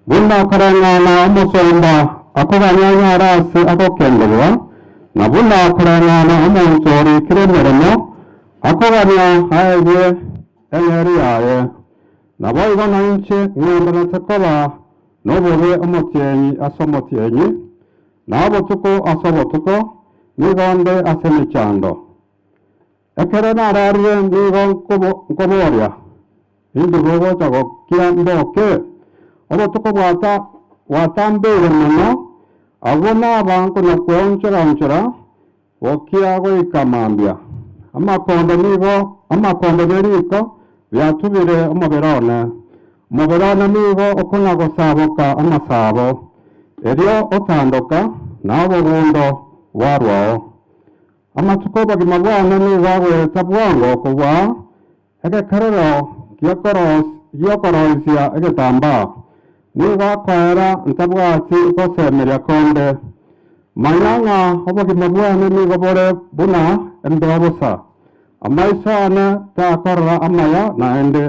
Buna okoreng'ana omosomba akobanyanyara ase ogokendererwa, na buna okoreng'ana omonto orikire emeremo akogania aegwe eng'eria yaye, naboigo nainche ng'endererete koba nobobe omotienyi ase omotienyi, na obotuko ase obotuko, nigo nde ase emechando. Ekero nararire nigo nkoboria, Inche nogocha gokia mboke? Obotuko bwatambeire mono, agwo naba nkona-kweonchera-onchera gokia goika mambia. Amakondo nigo amakondo ne riko biatubire omobere one, omobere one nigo okona-gosaboka amasabo, erio otandoka, na obogundo bwarwao. Amatuko 'obogima bwane nigo agoeta bwango kobua egekerero gi'okoroisia egetambaa, nigo akoera ntabwati gosemeria konde. Manya ng'a obogima bwane nigo bore buna embeo bosa, amaiso aane takorora amaya naende.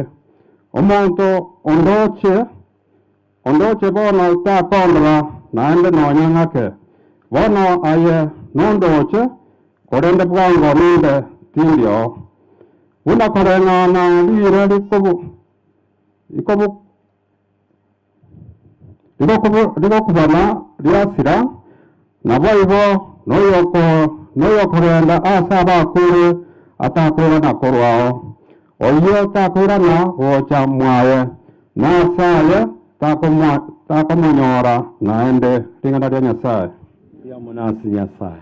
Omonto ondooche Ondoche bono takondora naende nonya ng'ake. Bono aye nondoche, korende bwango nimbe tindi oo. Buna koreng'ana riire rigokubana riasira, Naboigo noyokorenda ase abakure atakoirana korwao, oyio takoirana gocha mwaye, na ase aye takomonyora naende. Ring'ana ria Nyasae. Riamonase Nyasae.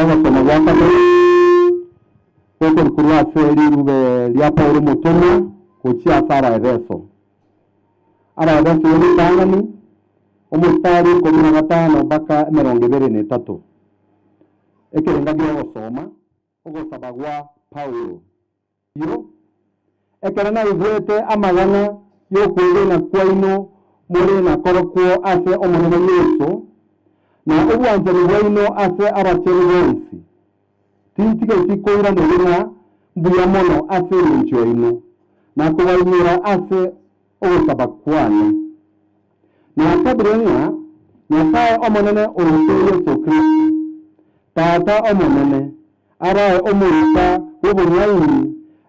Ogosoma gwa kabere gokorukorwa ase rirube ria Paulo omotomwa gochia ase Abaefeso. Abaefeso ya ritang'ani, omostari ikomi na gatano mpaka emerongo ebere na etato. Ekerenga gi'ogosoma ogosaba gwa Paulo. Erio ekero naigwete amagana y'okwegena kwaino more na korokwo ase Omonene Yeso, na obwanchani bwaino ase abachenu bonsi, tintigeti koira mobe na mbuya mono ase engencho yaino, na kobainyora ase ogosaba kwane. Nasabire ng'a Nyasae Omonene oito Yeso Kristo, Tata Omonene, arao omoika bw'obong'aini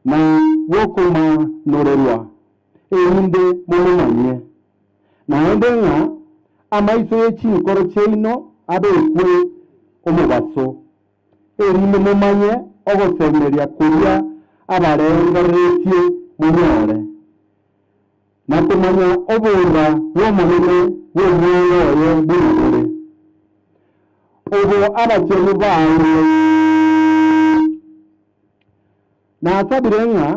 na bw'okomanorerwa, erinde momomanye. Naende ng'a amaiso ye chinkoro chiaino abekwe omobaso, erinde momanye ogosemeria koria abarengereretie monyore. Na komanya oboura bw'Omonene bw'omwando oye buna bore, obo abachenu baeirwe. Nasabire ng'a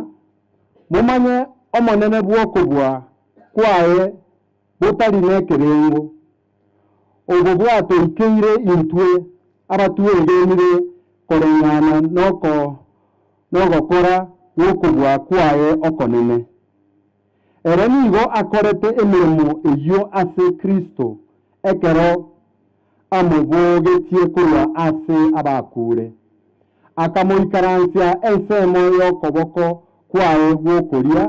momanye omonene bw'okobua kwaye botari nekerengo. Obo bwatoikeire intwe abatwegenire koreng'ana nogokora gw'okobua kwaye okonene. Ere nigo akorete emeremo eyio ase Kristo ekero amobogetie korwa ase abakuure, akamoikaransia ensemo y'okoboko kwaye gw'okoria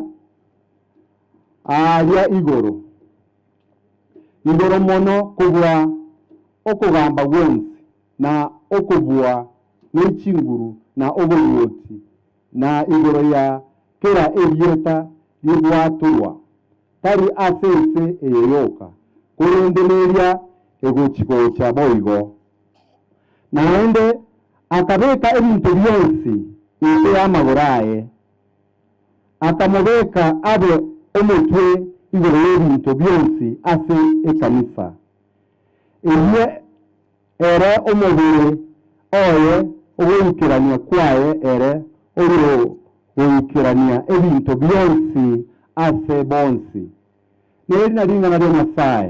aaria igoro. igoro mono kobua okogamba gwonsi, na okobua ne chinguru, na oboruoti, na igoro ya kera erieta rigwatorwa, tari ase ense eye yoka, korende neria egochi-gocha boigo. Naende akabeka ebinto bionsi inse y'amagoro aye. Akamobeka abe omotwe igoro y'ebinto bionsi ase ekanisa, eyio ere omobere oye, ogoikerania kwaye ere oyogoikerania ebinto bionsi ase bonsi. Neri na ring'ana ria Nyasae.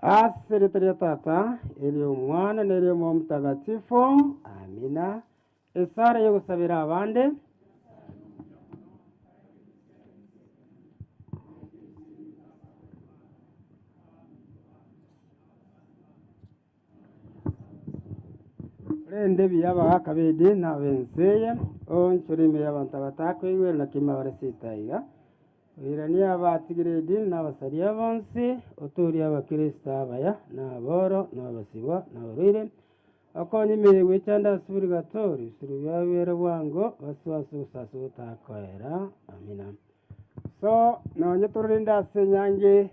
Ase erieta ria Tata, eri'Omwana, na eri'Omoyomotagatifu, Amina. Esara y'ogosabera abande. Korende biya abagaaka b'ebibi na ab'ense eye, oonchore ime y'abanto abatakwegwere na kemabare sitaiga. Oiranie abatigire edini na abasaria bonsi, otoorie Abakristo abaya, na aboro, na abasibwa, na abarwaire. Okonye emeri gwechanda ase purigatori, ebisirwa biabo biere bwango, basoe ase obosaso botakoera. Amina. So nonye tororende ase enyangi eye.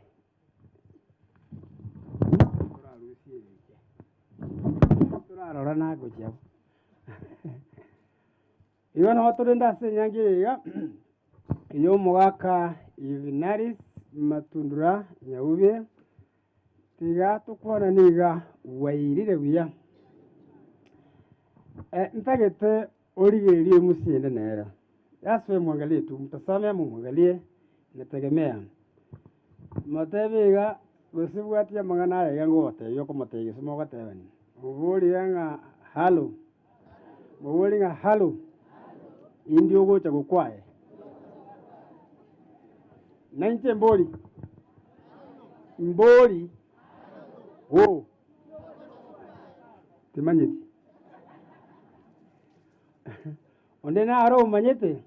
Torarusie eriogi. Torarora nagochia bo. Igo nabo torende ase enyancha eye iga, ey'omogaka Yuvinalis Matundura Nyaubi, tiga tokwana niga bwairire buya. Eh, ntagete origererie omochende nere. Just wewe mwangalie tu, mtazame ama omwangalie, inategemea. Motebe iga, gose bwatia amang'ana aya iga ngogotebia okomotebia gese mogotebani, oborie iga ng'a halo. Mobore ng'a Halo, indi ogocha gokwaye. Nainche mbori, mbori, wo, timanyeti. Onde naro omanyete,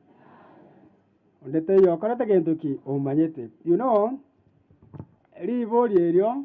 onde teiyo okorete gento ki omanyete. You know, ribori erio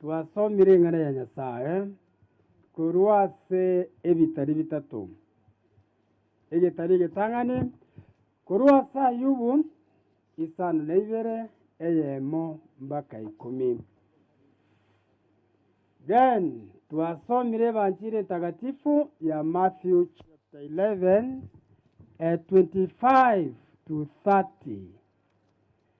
Twasomire Ring'ana ria Nyasae korwa ase ebitari bitato, egetari egetang'ani korwa ase Ayubu isano na ibere eyemo mbaka ikomi. Then twasomire Evanchiri Entagatifu ya Matthew chapter 11 eh, 25 to 30.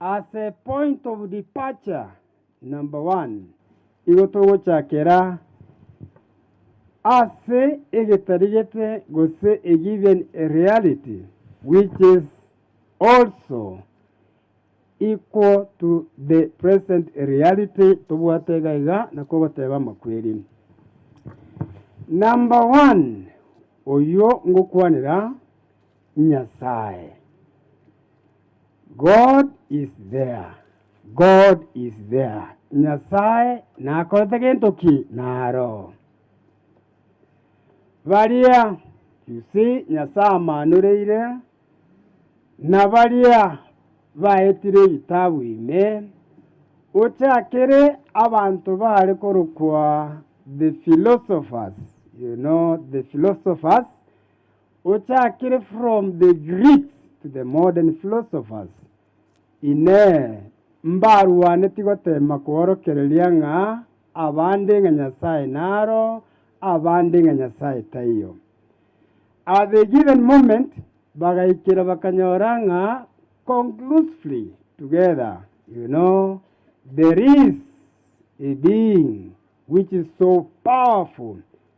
As a point of departure, number one, igo togochakera ase egetarigete gose a given reality which is also equal to the present reality tobwate iga iga na kogoteba amakweri. Number one, oyio ngokwanera Nyasae. God is there. God is there. Nyasae nakorete gento ki naro. Baria you see Nyasae amaanoreire na baria baetire ebitabu ime ochakere abanto baare korokwa the philosophers you know the philosophers Ochakire from the Greeks to the modern philosophers, Inee! Mbarwaneti goteema kworokereria ng'a abande ng'a Nyasae naro, abande ng'a Nyasae taiyo? At the given moment, bagaikera bakanyora ng'a conclusively together, you know, there is a being which is so powerful,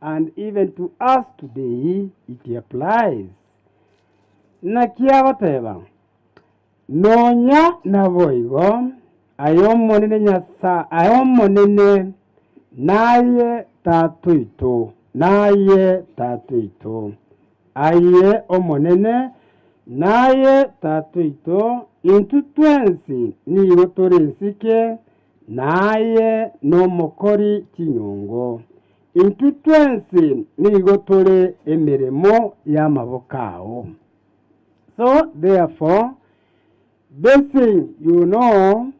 And even to us today it applies, Naki agoteba, Nonya naboigo, ay'Omonene Nyasa-, ay'Omonene naye Tata oito, naye Tata oito, aye Omonene naye Tata oito, intwe twensi nigo tore nsike, naye nomokori chinyungu. Intwe twensi nigo tore emeremo y'amaboko ao. So therefore blessing you no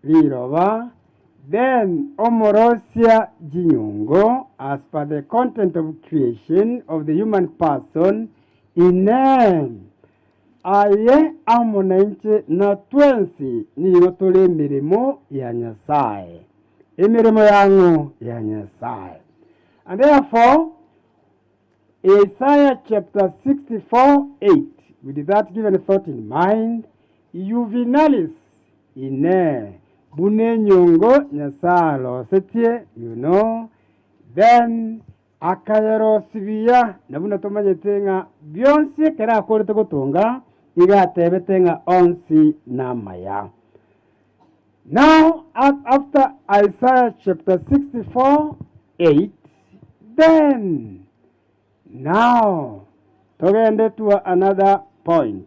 riroba, then omorosia chinyungu as per the content of creation of the human person, Inee! Aye amo nainche, na twensi nigo tore emeremo ya Nyasae, emeremo y'ang'o ya Nyasae? And therefore, Isaiah chapter 64, 8, with that given thought in mind, Juvenalis ine buna enyongo Nyasae alosetie, you know, then Akayerosibia, na buna tomanyete ng'a bionsi ekero akorete gotonga, igo atebete ng'a onsi namaya. Now, a- after Isaiah chapter 64, 8, then now togende to another point.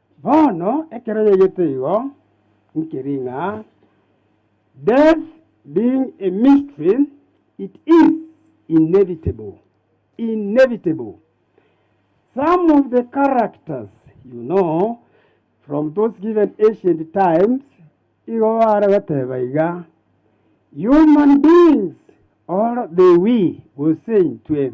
Bono ekero yaigete igo, nkeri ng'a death being a mystery, it is inevitable, inevitable. Some of the characters you know from those given ancient times igo bare goteba iga, Human beings or the we, gose intwe,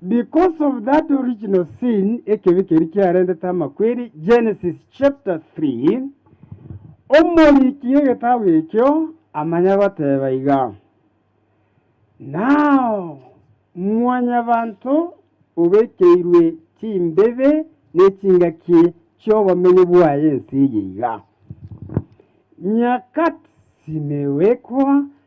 Because of that original sin, ekebi keria kiarentete amakweri, Genesis chapter 3, omoriki egetabu ekio amanya goteba iga, Nao mwanyabanto obekeirwe chimbibe ne chingaki chi'obomenyo bwaye ense eye iga, nyakati simewekwa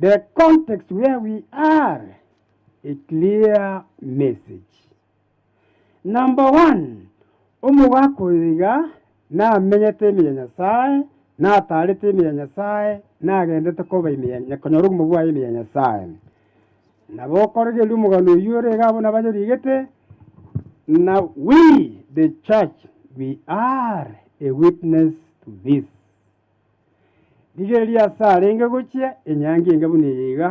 The context where we are a clear message. Number one, omogaka oyo iga namenyete ime ya Nyasae, nataarete ime ya Nyasae, nagendete koba ime ya Nya- konyora obumo bwaye ime ya Nyasae. Nabo okoregeria omogano oyio ore iga abwo nabo anyorigete, na we the church we are a witness to this. Rigereria aase arenge gochia enyangi enge buna eye iga,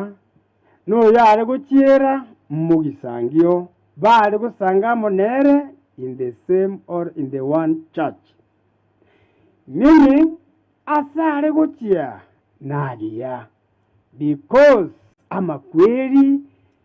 na oyo are gochiera mogisangio, baare gosanga amo nere in the same or in the one church. Meaning, aase are gochia narigia, because amakweri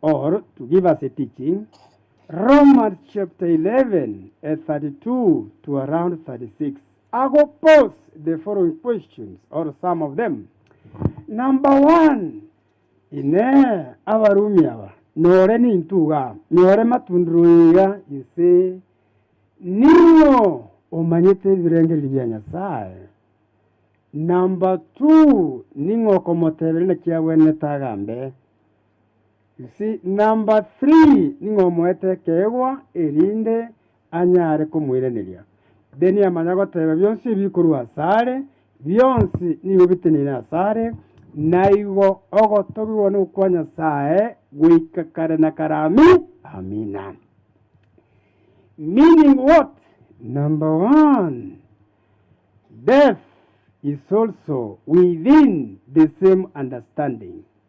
Or to give us a teaching, Romans chapter 11 eh, 32 to around 36. I go pose the following questions or some of them. Number one, ine abarumi aba nore nintuga nyore matundiro iga inse nigo omanyete ebirengererio bia Nyasaye. Number two, ning'o okomoteberera naki agwenerete agambe Gose number three ning'o omoete ekeegwa erinde anyare komoiraneria. Then amanya goteba bionsi ebi bikorwa asare, bionsi nigo biteneine asare, naigo ogotogigwa nokwa Nyasaye goika kare na kare ami, amina. Meaning what? Number one, death is also within the same understanding.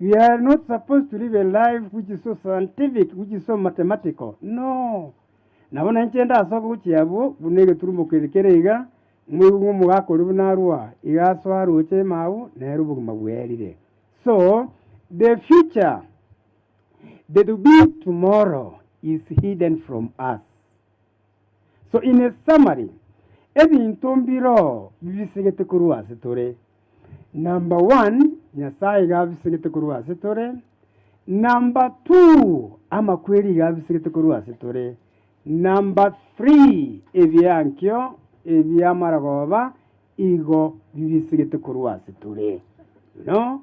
We are not supposed to live a life which is so scientific, which is so mathematical. No. Nabo nainche ndasoka gochia abwo buna egeturumo kere kere iga, moigwe ng'a omogaka oria buna arua, iga asoa aroche emau, nere obogima bwerire. So, the future, the to be tomorrow, is hidden from us. So in a summary, ebinto mbiro bibisegete korwa ase tore. Number one, Nyasae iga abisegete korwa ase tore. Number two, amakweri iga abisegete korwa ase tore. Number three, ebiankio ebi'amarogoba igo bibisegete korwa ase tore. You know?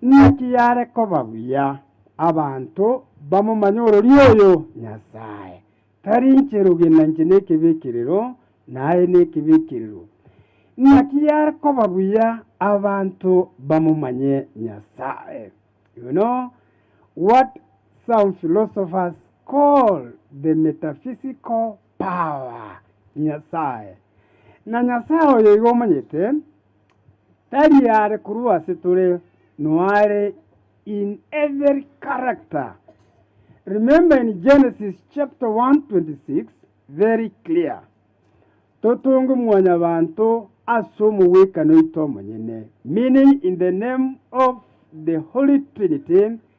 Naki yare koba buya abanto bamomanye orori oyo Nyasae tari inche rogena inche nekebi ekirero, na aye nekebi ekirero. Naki yare koba buya abanto bamomanye Nyasae. You know what some philosophers call the metaphysical power Nyasae. Na Nyasae oyo igo omanyete. Tari are korwa ase tore, noare in every character. Remember in Genesis chapter 1 26 very clear, Totonge mwanyabanto ase omogwekano oito omonyene, meaning in the name of the Holy Trinity,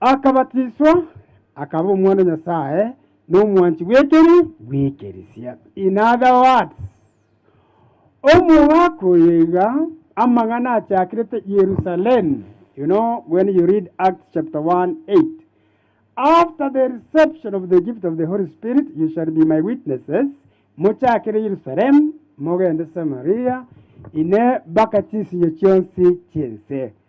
Akabatiswa, akaba omwana o Nyasae, na omwanchi bw'ekeri bw'ekeresia, in other words, omogaka oye iga amang'ana achakirete Yerusalemu, you know when you read Acts chapter 1, 8, After the reception of the gift of the Holy Spirit you shall be my witnesses, mochakere Yerusalemu, mogende Samaria, ine mpaka chinsinyo chionsi chi'ense.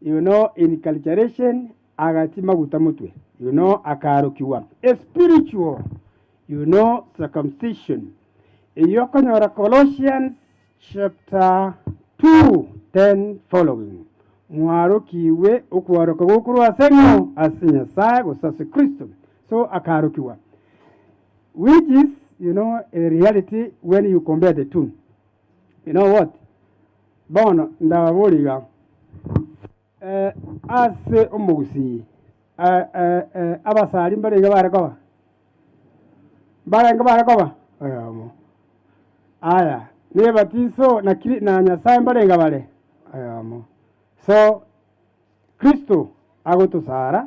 You know in culturation agachia maguta motwe, you know akaarokigwa a spiritual you know circumcision. Eyio okonyora Colossians chapter 2 10 following. Mwarokigwe okwaroka gokorwa ase ng'o? Ase Nyasaye gose ase Kristo. So akaarokigwa which is you know a reality when you compare the two. You know what? Bono ndababorie iga, eh, ase omogusii eh, eh, eh, abasari mbarenge bare koba? Mbarenge bare koba? Oyomo. Aya, nebatiso na Kri- na Nyasae mbarenge bare? Oyomo. So, Kristo agotosara,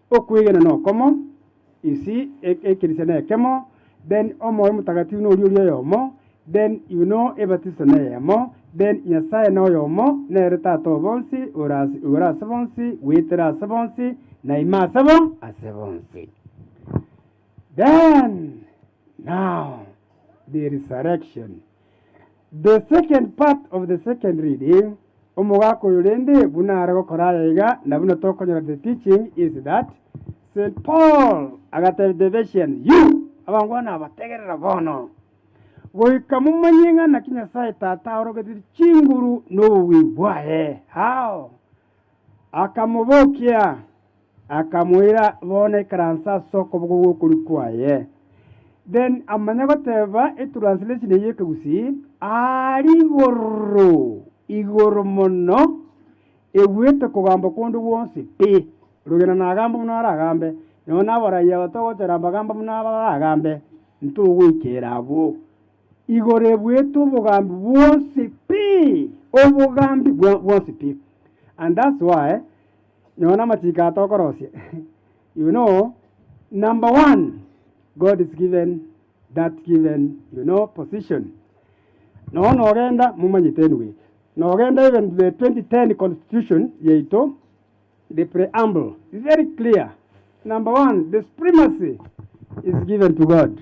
Okwegena nokomo, insi ekerisia nekemo, then omoyo motagatifu noria oria oyomo, then yuno ebatiso neyemo, then Nyasaye noyomo, nere Tata o bonsi, ore ase igoro ase bonsi, goetera ase bonsi, na ime ase bo ase bonsi. Then now the resurrection. The second part of the second reading, Omogaka oyo rende buna are gokora aya iga, na buna tokonyora the teaching is that St. Paul agatebia the Ephesians, you abangwana abategerera bono, goika momanye ng'a naki Nyasae Tata aorogetie chinguru nobobui bwaye. How? Akamobokia, akamoira bono ekeranso ase okoboko gw'okorio kwaye. Then amanya goteba etranslation eyio Ekegusii, Aare igoro, igoro mono, ebuete kogamba kwonde gwonsi pi, rogena nagamba buna aragambe, nonya nabarayia batogochera mbagamba buna abaragambe, ntogoikera abwo. Igoro ebwete obogambi bwonsi pi, obogambi bwa- bwonsi pi. And that's why, nyowe na amachiko aya tokorosia, you know, number one, God is given that given, you know, position. Nonya nogenda, momanyete anyway, nogenda even the 2010 constitution yaito, the preamble, is very clear. Number one, the supremacy is given to God.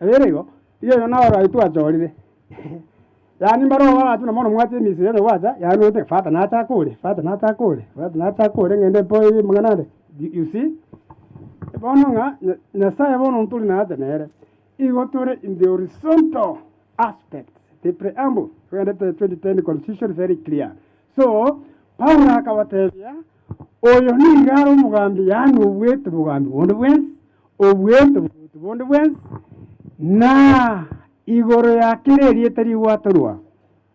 Eberego, iga erio naro aye twachorire, yaani mbarogo baratwe na bono mwache emisi yaino gwacha, yaani noete fata nache ake ore, fata nache ake ore, fata nache ake ore ng'ende mpo eye mang'ana ande, y- you see. Bono ng'a Nya- Nyasaye bono ntori naye nere, igo tore in the horizontal aspect, the preamble, togende to the twenty ten constitution very clear. So, Paulo akabatebia, oyo nigo are omogambi yaani oboete bogambi bonde bwensi, obweito bw'oboruoti bonde bw'ense, na igoro ya kera erieta rigwatorwa,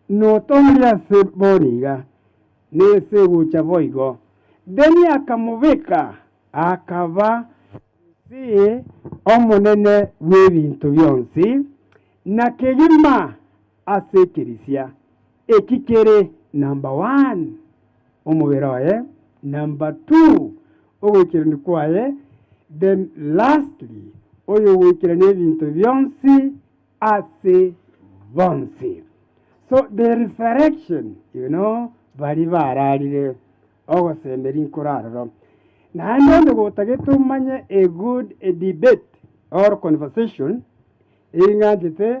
notoorire ase bono iga, na ense egocha boigo. Then akamobeka, akaba ase Omonene bw'ebinto bionsi, na kegima. Ase ekerisia, eki kere namba one omobere oye, namba two ogoikerania kwaye, then lastly oyogoikerania ebinto bionsi ase bonsi. So the resurrection, you know, baria bararire, ogosemeri nkore aroro. Naende onde gotagete omanye a good a debate or conversation, eing'anchete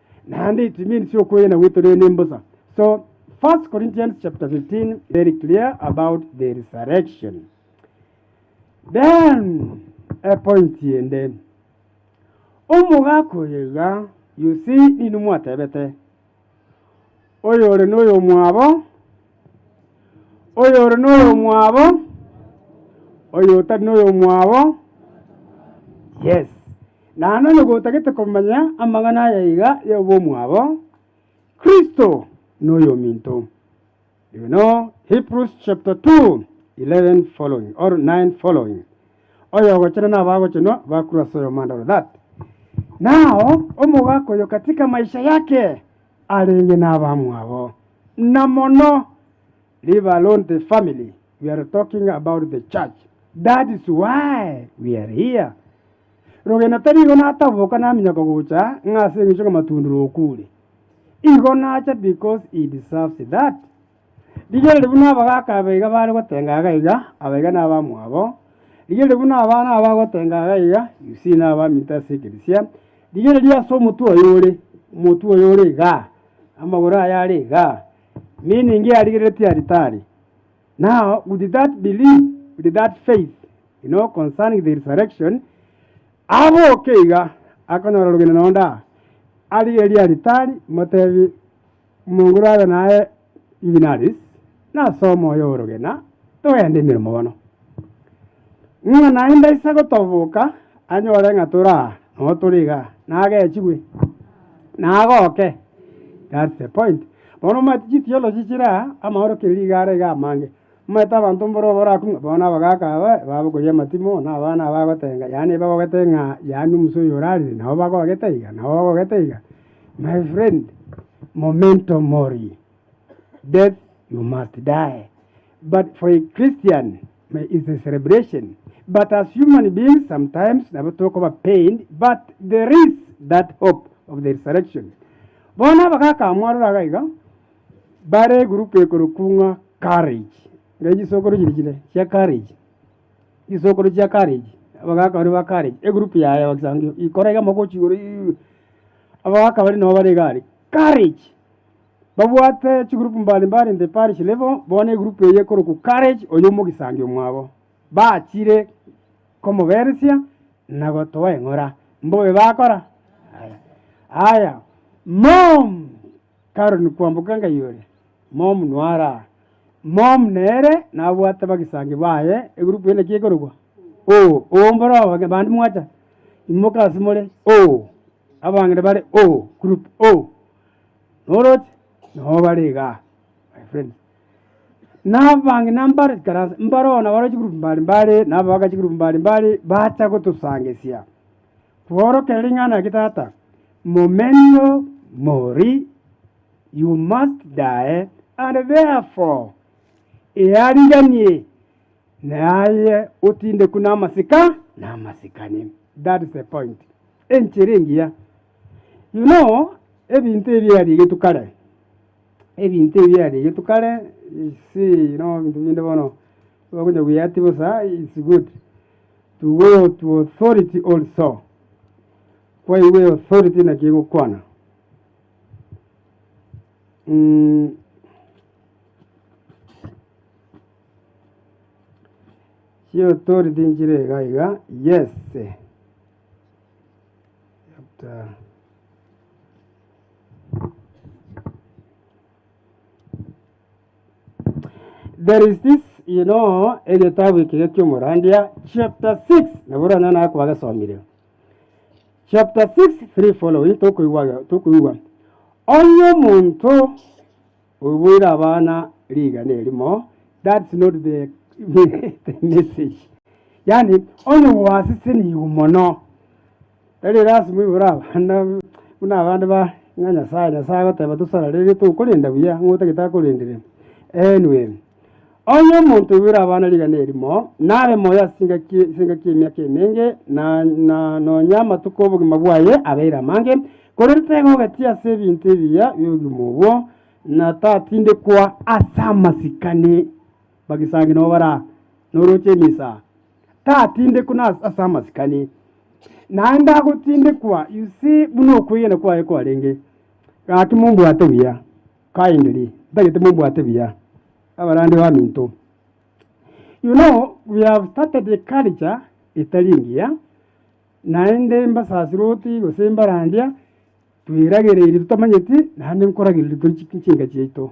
Naende it means okwegena gwetorire nembosa. So 1 Corinthians chapter 15 very clear about the resurrection. Then a point ende omogaka oyo iga you see nini mwatebete oyo ore noyo mwabo Oyore noyomwabo, oyotari noyomwabo, yes. Naende onye gotagete komanya amang'ana aya iga y'obomwabo, Kristo noyominto. You know Hebrews chapter 2, 11 following or 9 following. Oyogochena nabagochenwa bakorwa as'oyomandaro that now omogaka oyo katika maisha yake, arenge nabamwabo, na mono Rivalonte family we are talking about the church that's why we are here. Rogena tarigo nataboka naminyoko gocha ng'a ase engencho ng'a Matundura okure. Igo nacha because he deserves that. Rigiya riria buna abagaaka abe iga bare gotenga iga iga, aba iga nabamwabo. Rigiya riria buna abana aba bagotenga iga iga, Yusia nabaminto ase ekeresia. Rigiya riria ase omotwe oye ore, omotwe oye ore igaa, amagoro aye are igaa, meaning yarigereretie aritari. Now with that belief, with that faith, you know concerning the resurrection, aboke iga, akonyora orogendo na onde aa, arigererie aritari, motebie. Omonguru abe naye dinarisi, na ase omoyo orogena togende emeremo bono, ng'a naende aise gotoboka anyore ng'a tore aa noo tore iga, nagechigwe, na agoke. That's the point. Bono omanyete chitiyo law chichire aa, amaorokiri rigare iga amange. Omanyete abanto mboro barakong'a, bono nabagaaka aba babokoria amatimo, na abana aba bagotenga, yaani ebagogete ng'a yaani omusa oyo orarire, nabo bagogete iga, nabo bagogete iga. My friend, momento mori, death you must die, but for a Christian may is a celebration, but as human beings sometimes nabo tokoba pained, but there is that hope of the resurrection. Bono abagaaka aba mwarora iga. Bare egurupu ekorokwa ng'a Karaichi, nere chisokoro chiria chire chia Karaichi, chisokoro chia Karaichi, abagaka baria ba Karaichi, egurupu yaye ebagisangio ikoro iga mogochia igoro iiih, abagaka baria nabo bare iga aria, Karaichi, babwate chigurupu mbali mbali the parish level, bono egurupu eye ekorokwa Karaichi oyo omogisangio mwabo, bachire komoberesia na gotoa eng'ora, mbobe bakora? Aya, aya, mom. Karoni kwamboka enga igoro, Momu noyo are aa. Momu nere nabwate abagisangio baye, egurupu ende ki ekorokwa? Oo, oo, mboro abang'ina bande mwacha, imoka ase more, oo, abang'ina bare, oo, group, oo, noroche? Nabo bare iga aa, my friends. Na abang'ina mbare chikaransa, mbare oo nabarwete chigroup mbare mbare, na abagaaka chigroup mbare mbare, bacha gotosangereria. Kworokereria ring'ana eke tata, Momento mori, You must die, and therefore eariganie naye otindekwe namasika namasikani. That is the point. Enchera engiya. You know, ebinto ebi biarigetwe kare. Ebinto ebi biarigetwe kare, you see, you know, ebinto binde bono, ogocha guyati bosa, it's good. To go to authority also. Kwaigwa authority naki egokwana. Mm, chiauthority nchire iga iga yes chapter There is this, you know, egetabu eke gekiomorandia chapter 6 nabo oranyora naye kwagesomire chapter 6 3 following tokoigwa tokoigwa onye omonto oboire abana rigana erimo that's not the, the message yani onye gwaseseniwe mono Tari lasima oibore abande buna abande ba ng'a Nyasae, Nyasae agoteba tosara riria tokorenda buya ng'a otagete akorendere. Enwm. Onye omonto oibore abana rigana erimo, nabe moyo ase chingaki chingaki emiaka emenge, na, na, nonya amatuko 'obogima bwaye abeire amange, korende taiga ogati ase ebinto ebiya bi'obogima obwo, na tatindekwa ase amasikani bagisangi nabo bara noroche emisaa. tatindekwa ase amasikani, naende agotindekwa, you see, buna okwegena kwaye kwarenge. Gaki mombwate buya, kindly, ntagete mombwate buya abarwani baminto. You know, we have started a culture etari engiya, naende mbasasiroti gose mbarandia, tweragereiri totamanyeti, naende nkoragereiri tori chi chinka chiaito.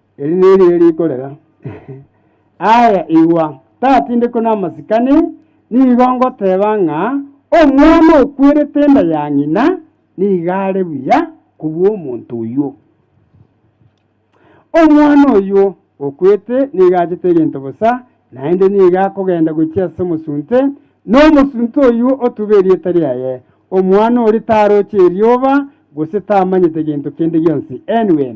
Eri nerirorio rikorera. Aye, igwa, tatindekwe namasikani, nigo ngoteeba ng'a omwana okwerete enda ya ng'ina nigo are buya kobua omonto oyio. Omwana oyio okwete nigo achete egento bosa, naende nigo akogenda gochia ase omosunte, na omosunte oyio otube erieta riaye. Omwana oria taroche erioba, gose tamanyete gento kende gionsi. NW.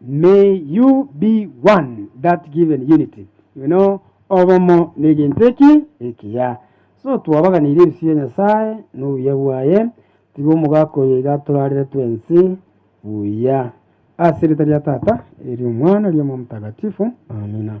May you be one, that given unity. You know, obomo negento eki ekiya. So twabaganirie ebisio bia Nyasaye na obuya bwaye, tiga omogaka oyo iga atorarire twensi buya. Ase erieta ria Tata, eria Omwana, eria Omoyo Omotagatifu. Amina.